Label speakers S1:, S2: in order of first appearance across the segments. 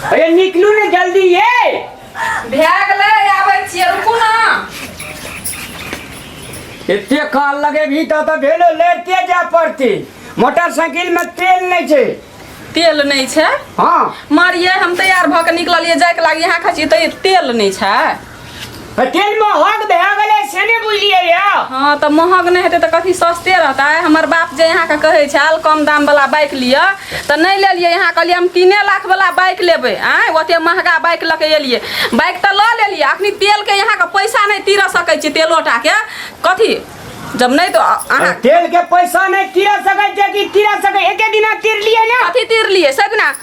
S1: अरे निकलू ने जल्दी ये भए
S2: गेलै आबै छियै रुकू ने
S1: एते काल लगे भी तो तो भेलो लेते जा पड़ती मोटरसाइकिल में तेल नहीं छे तेल नहि
S2: छै हाँ मारियै
S1: हम
S2: तैयार भऽ कऽ निकललियै जायके लागी यहाँ खाइ छियै तऽ तेल नहि छै तेल
S1: महग भए गेलै से नहि बुझलियै यऽ हाँ तऽ महग
S2: नहि हेतै तऽ कथी सस्ते रहतै हमर बाप जे अहाँके कहै छल कम दामवला बाइक लिअ तऽ नहि लेलियै अहाँ कहलियै हम तीने लाखवला बाइक लेबै आँय ओतेक महगा बाइक लऽ कऽ एलियै बाइक तऽ लऽ लेलियै अखनी तेलके अहाँके पैसा नहि तीर सकै छी तेलो टाके कथी जब नहि तऽ अहाँ तेल के पैसा
S1: नहि तीरा सकै छै कि तीरा सकै एके दिना तीर लिए ने कथी तीर लिए सजना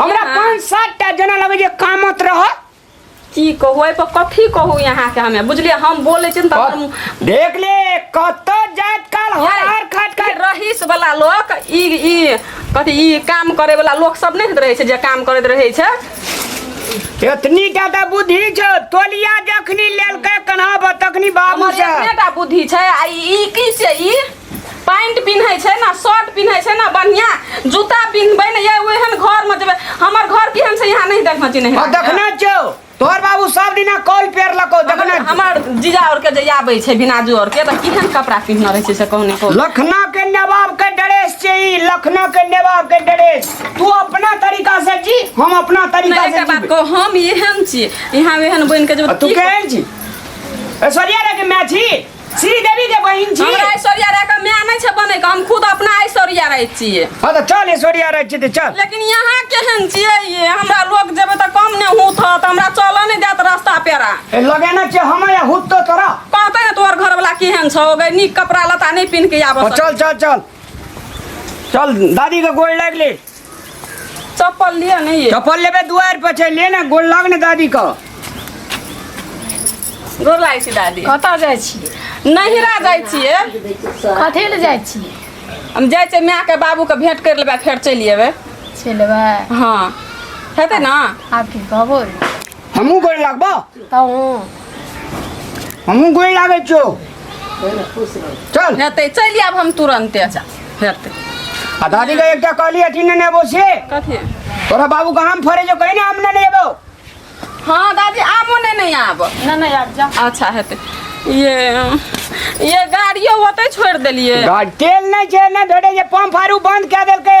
S1: हमरा हाँ। पाँच सात टा जना लगे जे कामत रह की कहू
S2: एहि पर कथी कहू यहाँ के हमे बुझलिए हम बोले छी न तऽ हम देख ले
S1: कत जात काल हर हर खट के खट रहीस वाला
S2: लोग ई ई कथी ई काम करे वाला लोग सब नहीं रहे छै जे काम करैत रहे छै
S1: इतनी टा तऽ बुद्धि छौ तोलिया जखनी लेलकै कन्हा पर तखनी बाबू हमर से एतने टा बुद्धि छै
S2: आ ई की छै ई पैंट पिन्है छै ना शर्ट पिन्है छै ना बढ़िया जूता पिन्हबै ने ये ओहन घर में जेबै हमर घर केहन छै यहाँ नहीं देखना चिन्ह और देखना छो
S1: तोहर बाबू सब दिना कॉल पेर लको देखना छो। हमर जीजा और
S2: के जे आबै छै बिनाजू और के त केहन कपड़ा पिन्हना रहै छै से कहू ने कहू लखना के नवाब
S1: के ड्रेस छे ई लखना के नवाब के ड्रेस तू अपना तरीका से जी हम अपना तरीका नहीं से के बात जी कहू हम एहन
S2: छी यहाँ एहन बन के जेबै आ तू की केहन छी
S1: ऐश्वर्या रे के मैच ही श्रीदेवी के बहिन छी हमरा ऐश्वर्या राय के माय
S2: नहीं छै बने के हम खुद अपना ऐश्वर्या राय छियै हां त चल ऐश्वर्या
S1: राय छी त चल लेकिन यहां केहन
S2: छियै ये हमरा लोग जेबे त कम ने हुत ह त हमरा चल नै देत रास्ता पेरा ए लगे ना छै हम
S1: या हुत तो तोरा कहते ने तोहर घर
S2: वाला केहन छौ गई नीक कपड़ा लता नहीं पिन के आबो चल चल चल
S1: चल दादी के गोड़ लाग ले चप्पल
S2: लिया नहीं है चप्पल लेबे दुआर पर छै
S1: ले ना गोल लाग ने दादी का
S2: गोर लागै छी दादी कतऽ जाइ छियै
S3: नहिरा जाइ
S2: छियै कथी लए
S3: जाइ छियै हम जाइ छियै
S2: माय के बाबू के भेंट कर लेबै फेर चलि अयबै चलबै
S3: हाँ
S2: हेतै ने आब की कहबै
S3: हमहूँ गोड़
S1: लागबो तब
S3: हूँ
S1: हमहूँ गोड़ लागै छियौ चल नहि तऽ चलि
S2: आयब हम तुरन्ते अच्छा हेतै आ दादी
S1: के एकटा कहली अथी ने नेबो से कथी तोरा
S2: बाबू कहाँ
S1: में फरे जो कहीं ना हम ना नेबो हँ
S2: दादी आबो नहि नहि आब नहि नहि आब जा
S3: अच्छा हेतै
S2: ये ये गाड़ियो ओतै छोड़ि देलियै गाड़ तेल नहीं छे
S1: ना धरे जे पंप आरू बंद कऽ देलकै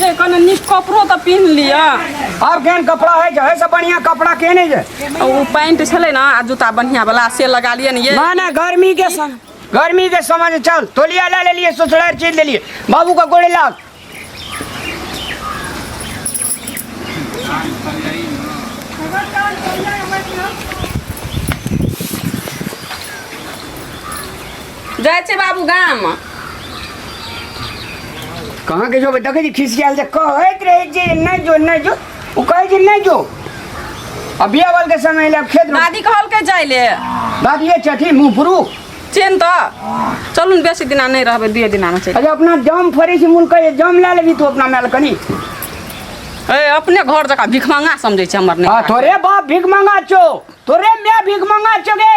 S2: जे कने नीक कपड़ो तऽ पिन्ह लिअ आब केहन
S1: कपड़ा है जे है से बढ़िया कपड़ा के नहीं जे आ ओ पैंट छलै
S2: ने आ जूता बढ़िया वाला से लगा लिअ ने ये ना ना गर्मी के
S1: सम गर्मी के समझ चल तोलिया ला ले लिए ससुरार चीज ले लिए बाबू का गोड़े लाग
S2: जाइ छै बाबू गाम
S1: कहाँ के जो बेटा के खिसियाल से कहत रहे जे नहीं जो नहीं जो वो कहे जे नहीं जो अभी अवल के समय ले अब खेत में दादी कहल के जाइ ले
S2: बात ये छठी
S1: मुंह फुरू चेन त
S2: चलू ने बेसी दिना नहि रहबै दुए दिनामे चलि अरे अपना जम फरे
S1: से मुल कहे जम ला लेबी तू अपना मेल कनी
S2: ए अपने घर जकाँ भिखमंगा समझै छै हमर आ, नहि तोरे बाप भीख मंगा
S1: छो तोरे मैं भीख मंगा छो गे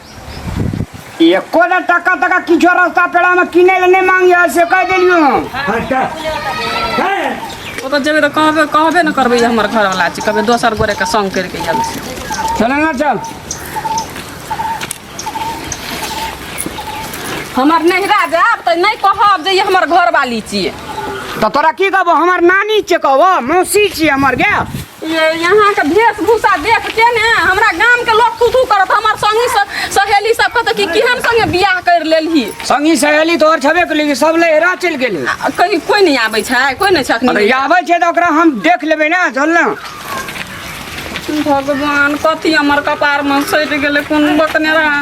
S1: एको ना टका तका किछो रास्ता पेड़ा में किने ले नहीं मांगी है से कह देलियो हम हटा हैं ओ तो जेबे
S2: तो कहबे कहबे न करबे हमर घर वाला छी कबे दोसर गोरे के संग करके आयल छी चल ना चल हमर नहिरा जाब तऽ नहि कहब जे ई हमर घर वाली छियै तो तोरा की
S1: कहबो हमार नानी छे कहबो मौसी छी हमर गे ये यहाँ
S2: के वेशभूषा देख के ने हमरा गाम के लोग थू थू करत हमर संगी स- सहेली सब कहत कि केहन संगे बियाह कर लेलही संगी सहेली तोहर
S1: छबे के लेकिन सब लहरा चलि गेलै आ, कहीं कोई नहीं आबै
S2: छै कोई नहीं छखनी अरे आबै छै तऽ ओकरा हम
S1: देख लेबै ने चल ने
S2: भगवान कथी हमर कपार में सटि गेलै कोन बकने रहा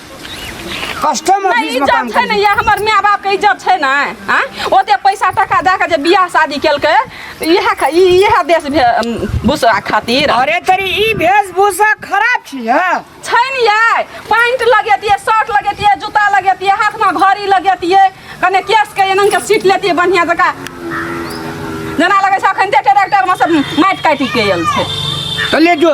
S1: कस्टम नहि ऑफिस में इज्जत काम छै
S2: ने करी या हमर माय बाप के इज्जत छै ने आँ ओते पैसा टका दए के जे बियाह शादी केलकै इएह ख- ई- इएह देश भे- भूसा खातिर अरे तेरी ई
S1: वेशभूषा खराब छी है छै ने यै
S2: पैंट लगेतियै शर्ट लगेतियै जूता लगेतियै हाथमे घड़ी लगेतियै कने केसके एना के सीट लेतियै बढ़िआँ जकाँ जेना लगै छै अखन ट्रैक्टरमे सब माटि काटि के आयल छै तो ले जो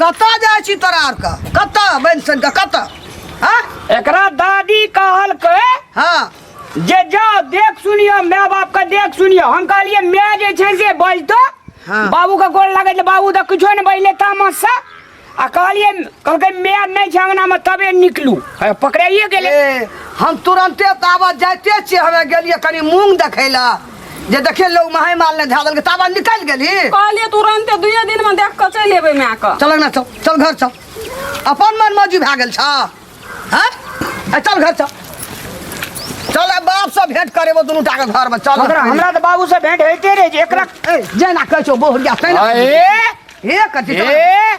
S1: कतऽ जाइ छी
S4: तोरा आरके कतऽ बनि सुनि कऽ कतऽ हँ एकरा दादी
S1: कहलकै हँ
S4: जे जाओ
S1: देख सुनियो माय बाप के देख सुनियो हम कहलिए माय जे छै से बजतो हाँ। बाबू के
S4: गोल लगे
S1: तो बाबू तो कुछो नहीं बजले तामस से आ कहलिए कहलकै माय नहीं छै अंगना में तबे निकलू है, पकड़ाइए गेले ए, हम
S4: तुरंते ताबत जाइते छियै हमे गेलियै कनि मूंग देखै लए जे देखे लोग माहे माल ने झादल के ताबा निकल गेली कहलिए तुरंते
S2: दुए दिन में देख के चल एबे मैं के चल ना चल चल घर चल
S4: अपन मन मौजी भए गेल छ हैं ए, चल घर चल चल ए, बाप से भेंट करे वो दुनू टा के घर में चल हमरा हमरा तऽ बाबू से भेंट
S1: होइते रहे जे एकरा ए, जेना कहै छौ
S4: बोहरिया तैना अरे हे कथी ए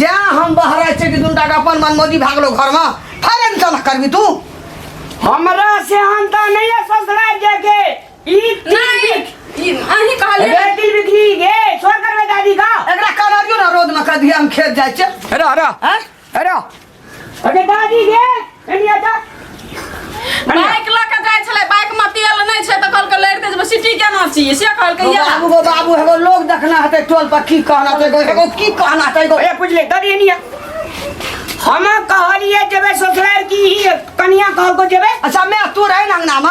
S4: जा हम बहरा चेटी दुंडा का अपन मनमोजी भाग लो घर में फिर इनका ना करबी तू हमरा
S1: से हंता नहीं है ससुरा जाके ई नहीं
S2: ई अहीं कहले रे दिल बिखरी गे
S1: छोड़ कर दादी का एकरा कलरियो ना रोड
S4: में कर दिया हम खेत जाए छे अरे अरे हैं अरे
S1: अरे दादी गे एनी
S2: आ जा बाइक लऽ के जाइ छलै बाइक मे तेल नहि छै तऽ कहलकै लड़ि दे जेबै सिटी केना छियै से कहलकै ओ या बाबू गो बाबू एगो लोग
S4: देखना हेतै टोल पर की कहना छै एगो- एगो की कहना छै एगो ए बुझले दादी एनी
S1: आ हम कहलिए जेबै ससुराल की ही कनिया कहलको जेबै अच्छा मैं तू रहे ना
S4: अंगना में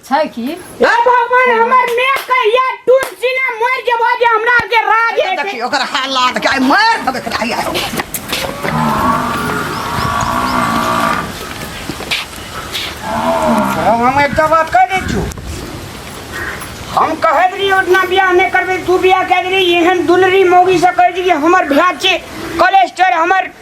S4: छै की हे
S3: भगवान
S1: हमर ने कहिया टून सिने मर जेबो जे हमरा के राज है देखी ओकर हालात
S4: के मार देबे
S1: करा या हम एकटा बात कह दै छी हम कहैत रही ओतना बियाह नहि करबै तू बियाह कए देली एहन दुलरी मौगी से कहै छी कि हमर भ्रात छै कोलेस्टर हमर